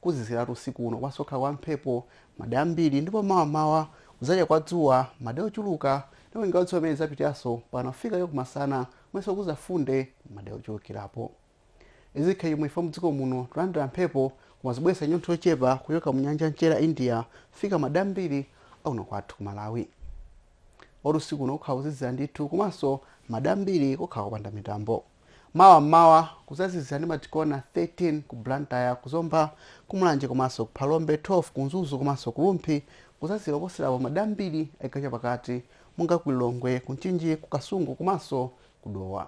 Kuziziratu usiku uno komanso kukhala kwa mphepo, madera ambiri ndipo mawa m'mawa kuzacha kwa dzuwa, madera ochuluka ndipo nyengo ya dzuwa imene izapitanso mpakana kufika chakumasana komanso kuzafunda, madera ochulukilapo. Izi zikhale chomwechi chifukwa mudziko muno tulandila mphepo koma zobweletsa nyontho yochepa kuchoka mu nyanja ya mchere ya India kufika madera ambiri akuno kwathu ku Malawi. Moti usiku uno kukhala kozizira ndithu komanso madera ambiri kukhala kopanda mitambo. Mawa m'mawa kuzazizira ndi ma degree okwana 13 ku Blantyre, ku Zomba, ku Mulanje komanso ku Phalombe, 12 ku Mzuzu komanso ku Rumphi, kuzazizira koposera apo m'madera ambiri a chigawo chapakati monga ku Lilongwe, ku Mchinji, ku Kasungu komanso ku Dowa.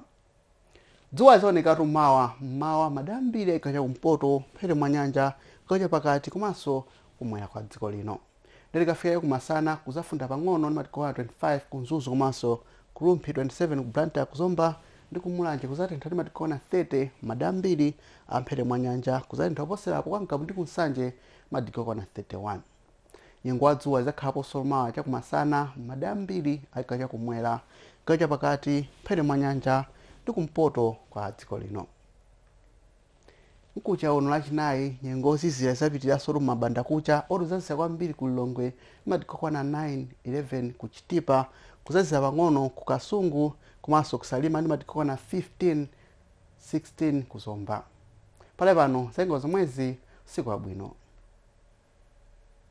Dzuwa lidzaonekatu mawa m'mawa m'madera ambiri a chigawo chakumpoto, mphepete mwa nyanja, chigawo chapakati komanso kum'mwera kwa dziko lino. Nde tikafika chaku masana kuzafunda pang'ono ndi ma degree okwana 25 ku Mzuzu komanso ku Rumphi 27 ku Blantyre ku Zomba ndi ku Mulanje kuzatentha ndi ma degree okwana 30 madera ambiri a mphepete mwa nyanja kuzatentha kuposela apo kwa Ngabu ndi ku Nsanje ma degree okwana 31. Nyengo ya dzuwa izakhalaponso mawa chaku masana mmadera ambiri a chigawo cha kumwera, chigawo cha pakati, mphepete mwa nyanja ndi ku mpoto kwa dziko lino. Mkucha uno lachinayi nyengo yozizira izapitiliranso mu mbandakucha moti kuzazizira kwambiri ku Lilongwe ndi ma degree okwana 9, 11 ku Chitipa kuzazira pang'ono ku Kasungu komanso ku Salima ndi ma degree okwana 15, 16 ku Zomba. Pakali pano za nyengo zomwezi usiku wabwino.